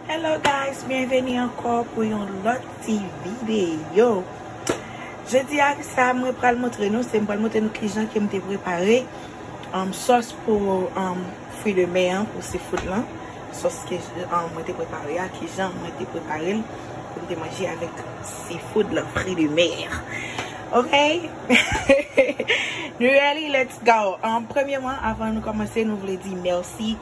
Hello guys, byenveni ankò pou yon lòt ti videyo. Jodi ak sa mwen pral montre nou, se mwen pral montre nou kijan ke mwen te prepare um, sos pou um, fwi de mè an, pou seafood lan. Sos ke um, mwen te prepare a, kijan mwen te prepare l pou mwen te manje avèk Ti foud lan fri de mer ok nou ready let's go premyeman avan nou komanse nou vle di merci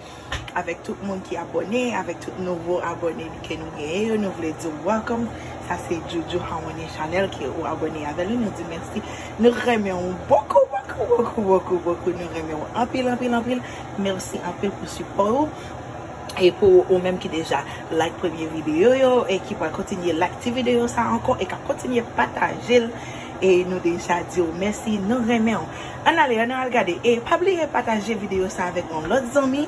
avek tout moun ki abone avek tout nouvo abone ke nou genyen yo nou vle diw welcome sa se Jojo Harmonie Chanel ke ou abone avèl nou di merci nou renmenw bokou bokou bokou bokou bokou nou renmenw anpil anpil anpil merci anpil pou sipòw ou. E pou ou menm ki deja like premye video yo e ki pral kontinye like ti video sa ankò e kap kontinye patajel e nou deja diw mèsi nou renmenw ann ale ann al gade e pa bliye pataje video sa avèk yon lòt zanmi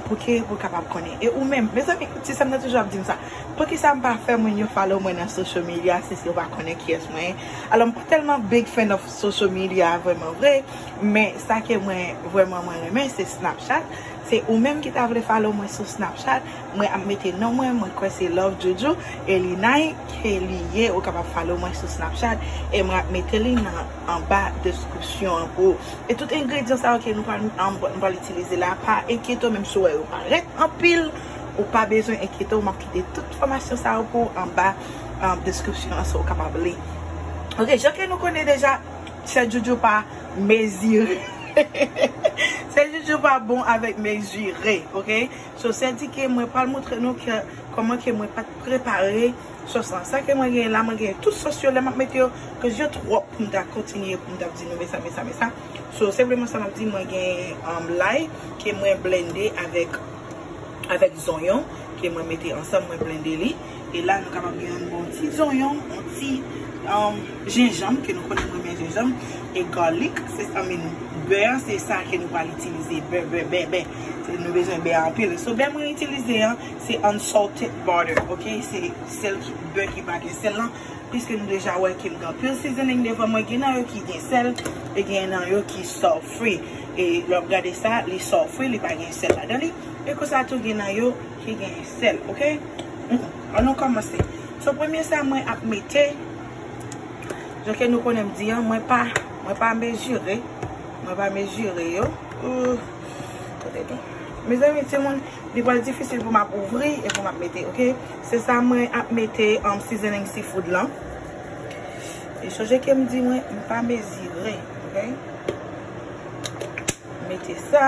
pou ke ou kapab konnen e ou menm mezanmi ti sèm nan toujou ap dim sa poukisa m pa fè moun yo follow mwen nan social media si yo pa konnen kiyès mwen ye alò m pa tèlman big fan of social media vrèman vre men sa ke mwen vrèman mwen renmen se snapchat Se ou menm ki ta vle follow mwen sou snapchat mwen ap mete non mwen mwen kwè se love joujou e linay ke li ye ou kapab follow mwen sou snapchat e mwen ap mete li nan anba deskripsyon an pou ou e tout engredyan sa yo ke nou pral mwen pral itilize la pa enkyete w menm si w wè yo parèt anpil ou pa bezwen enkyete w map kite tout enfòmasyon sa yo pou ou anba deskripsyon an sa ou kapab li ok jan ke nou konnen deja chè joujou pa. Mezire Se joujou pa bon avèk mezire ok so sè di ke mwen pral moutre nou ke kòman ke mwen pat prepare sòs lan sa ke mwen genyen la mwen genyen tout sòs yo lè map mete yo koz yo twòp poum ta kontinye poum ta di nou mesa mesa mesa so senpleman sa map di mwen genyen lay ke mwen blende avèk avèk zonyon ke mwen mete ansanm mwen blende li. E la nou kapab gen yon bon ti zonyon, yon ti jenjanm, ke nou konnen nou renmen jenjanm, e garlic, se sa menm. Bè an se sa ke nou pral itilize, bè, bè, bè, bè. Se nou bezwen bè anpil. So bè mwen itilize an, se unsalted butter, ok? Se sèl ki, bè ki pa gen sèl lan. Piske nou deja wè ke m gen anpil seasoning devan mwen, gen nan yo ki gen sèl, e gen nan yo ki salt free. E lè w ap gade sa, li salt free, li pa gen sèl ladan li. E konsa tou gen nan yo. Ki genyen sèl ok an nou kòmanse so premye sa mwen ap mete jan ke nou konnen m di an mwen pa mwen pa mezire mwen pa mezire yo tande non mezanmi timoun li pral difisil pou m ap ouvri e pou m ap mete ok se sa mwen ap mete seasoning seafood lan e sonje ke m di mwen m pa mezire ok mete sa.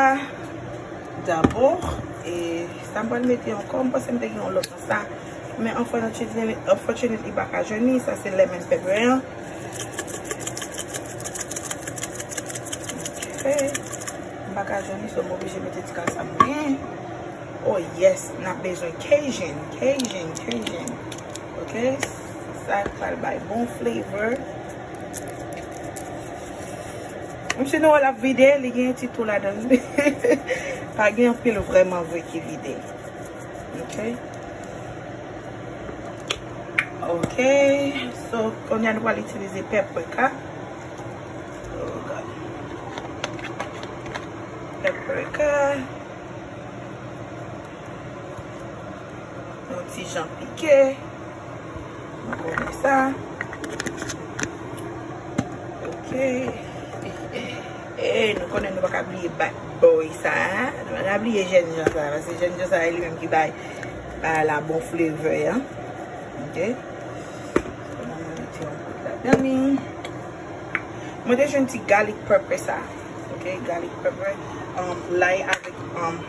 Dabò e sa m pral mete ankò, m panse m te gen yon lòt nan sa, men unfortunately li pa ka jwenn li, sa se lemon pepper an. Ok, m pa ka jwenn li so m oblije mete ti kal sa m gen. Oh yes, n ap bezwen cajun, cajun, cajun. Ok, sa pral bay bon flavor. Msye Noel ap vide, li gen yon ti tou ladan l. Pa gen anpil vrèman vre ki vide. Ok. Ok. So, kounye a nou pral itilize paprika. Oh God. Paprika. Yon ti jan pike. Mwen konnen sa. Ok. Eee, nou konnen nou baka bliye bat boy sa. Nou baka bliye jen jan sa. Vase jen jan sa e li menm ki bay la bon fleve ya. Ok. Mwen te jwen ti garlic pepper sa. Ok, garlic pepper. Lay avik.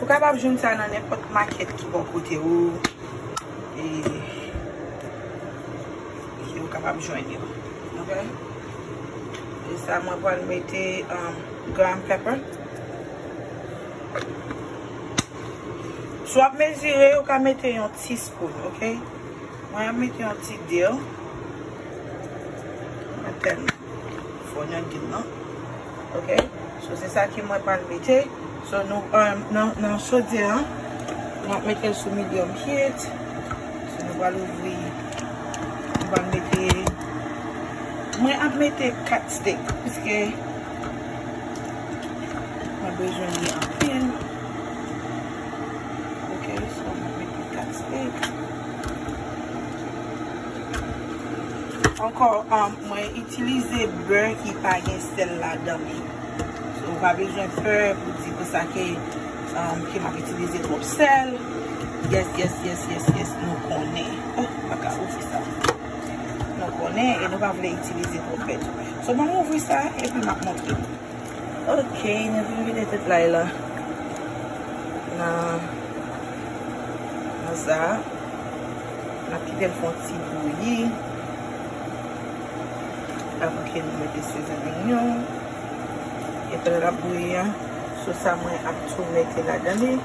Ou kapab jwenn sa nan nenpòt makèt ki bò kote ou e ou kapab jwenn yo ok e sa mwen pral mete ground pepper Si w ap mezire, ou ka mete yon ti scoop, ok. Mwen ap mete yon ti dil. Mwen tèl fò nan dil nan. Ok. So, se sa ki mwen pral mete. So, nou, nan sodye an, mwen ap mete sou medium heat. So, nou pral ouvri. Mwen ap mete 4 steak. Piske. Mwen bezwen li anpil. Ok, so mwen mete 4 steak. Ankò, mwen itilize bè ki pa gen sèl la dan li. So, ou pa bezwen pè pou di pou sa ke ke mwen itilize twòp sèl. Yes, yes, yes, yes, yes, nou konnen. Oh, mwen pa ka ouvri sa. Nou konnen e nou pa vle itilize pwofèt. So banm ouvri sa epi map montre nou. Ok, nou vin vide tout lay la nan nan sa. Nap kitel fon ti bouyi. Avan ke nou mete sezonin yo. E pèl la bouyi an, sou sa mwen ap tou mete ladan li.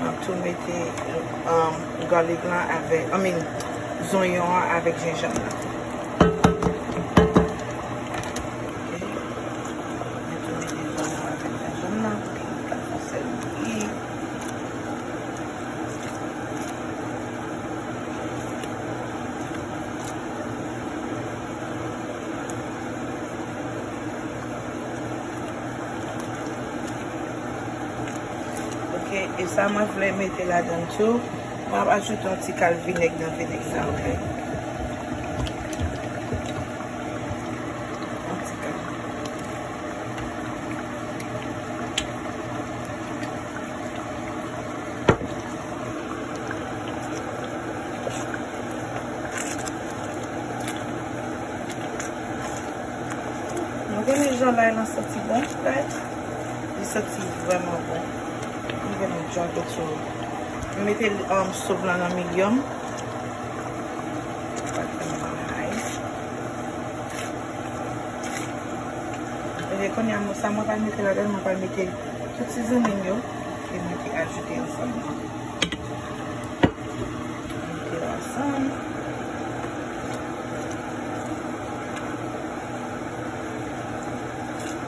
Map tou mete garlic lan avèk I mean zonyon an avèk jenjanm nan. Ok e sa mwen vle mete ladann tou map ajoute yon ti kal vinèg nan vinèg sa ok yon ti kal nou gen jan lay lan santi bon frèt Li santi vrèman bon. Li gen yon jan teksti. M mete sòs la nan medium. E konye a sa mwen pral mete ladan, mwen pral mete tout sizinin m yo e mwen te ajoute yon sòs la. Mete la san.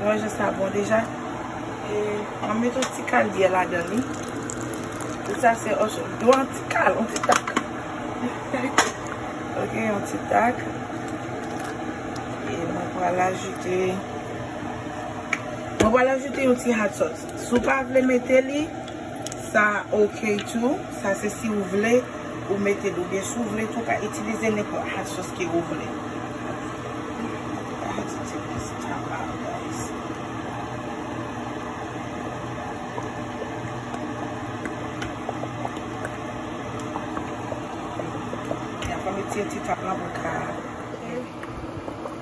Mwen jè sa bon deja. E mwen met yon ti kal byè la dan li. Tout sa se o chou. Dwa yon ti kal, yon ti tak. Ok, yon ti tak. E mwen pwa la jute. Mwen pwa la jute yon ti hat sot. Sou pa vle mete li. Sa ok tou, sa se si ou vle ou metel ou byen si ou vle tou ou ka itilize nenpòt hot sauce ke ou vle. Fòm li ti tap la pou l ka.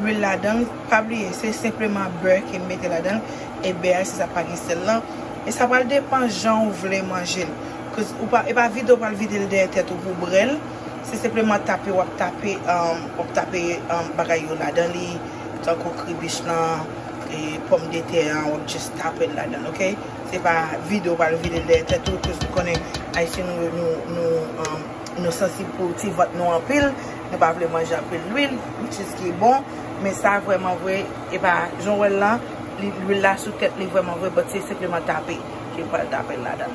lwil ladan l, pa bliye se senpleman bè ke m mete ladan l, e bè a se sa k pa gen sèl lan, e sa pral depan jan ou vle manje l, cause ou pa, e pa vide w pral vide l dèyè tèt ou pou w brè l, se senpleman tape w ap tape, w ap tape bagay yo ladan li, tankou kribich lan, e pòmdetè an, w ap just tape l ladan l ok, se pa vide w pral vide l dèyè tèt ou, cause ou konnen ayisyen nou, nou sansib pou ti vant nou anpil, Nou pa vle manje anpil lwil, which is ki bon, men sa vreman vre, e pa jan w wè l la, lwil la sou tèt li vreman vre, but se senpleman tape ke pral tape l ladan.